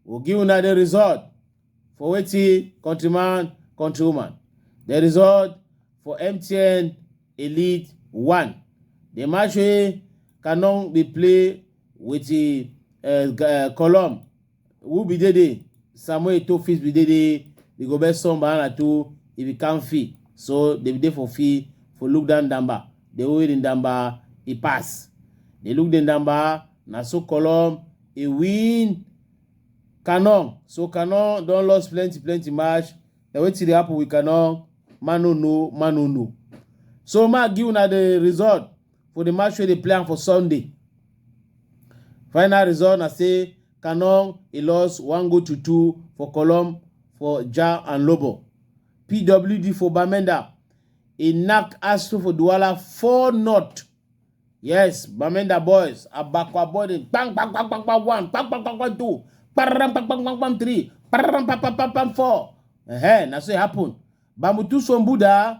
We'll give una the result for wetin countryman countrywoman. The result for MTN Elite 1. The match wey Canon dey play with the uh, uh, Colum Who be Dede? Samuel Eto'o fit be Dede. The go best son by Anatu. He be Kanfi. So they be there for fee for look down Damba. They always in Damba. He pass. They look the Damba. Na so Colom. He win. Canon. So Canon don lost plenty plenty match. Na wetin dey happen with Canon? Man no know, man no know. So ma give una the result. for di match wey dey play am for sunday final result na say Canon e lost one goal to two for Colom for Jah and Lobo. PWD for Bamenda e knack Astro for Douala four not. Yes, Bamenda boys Abakwa boy dey bang bang bang bang bang one bang bang bang bang two bang bang bang bang bang three bang bang bang bang bang four. Ehe, na so e happen. Bamutu Sombuda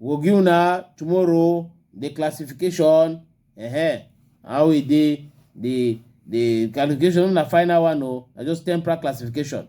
we go give una tomorrow the classification uh-huh. how e dey the the classification na final one o na just temporal classification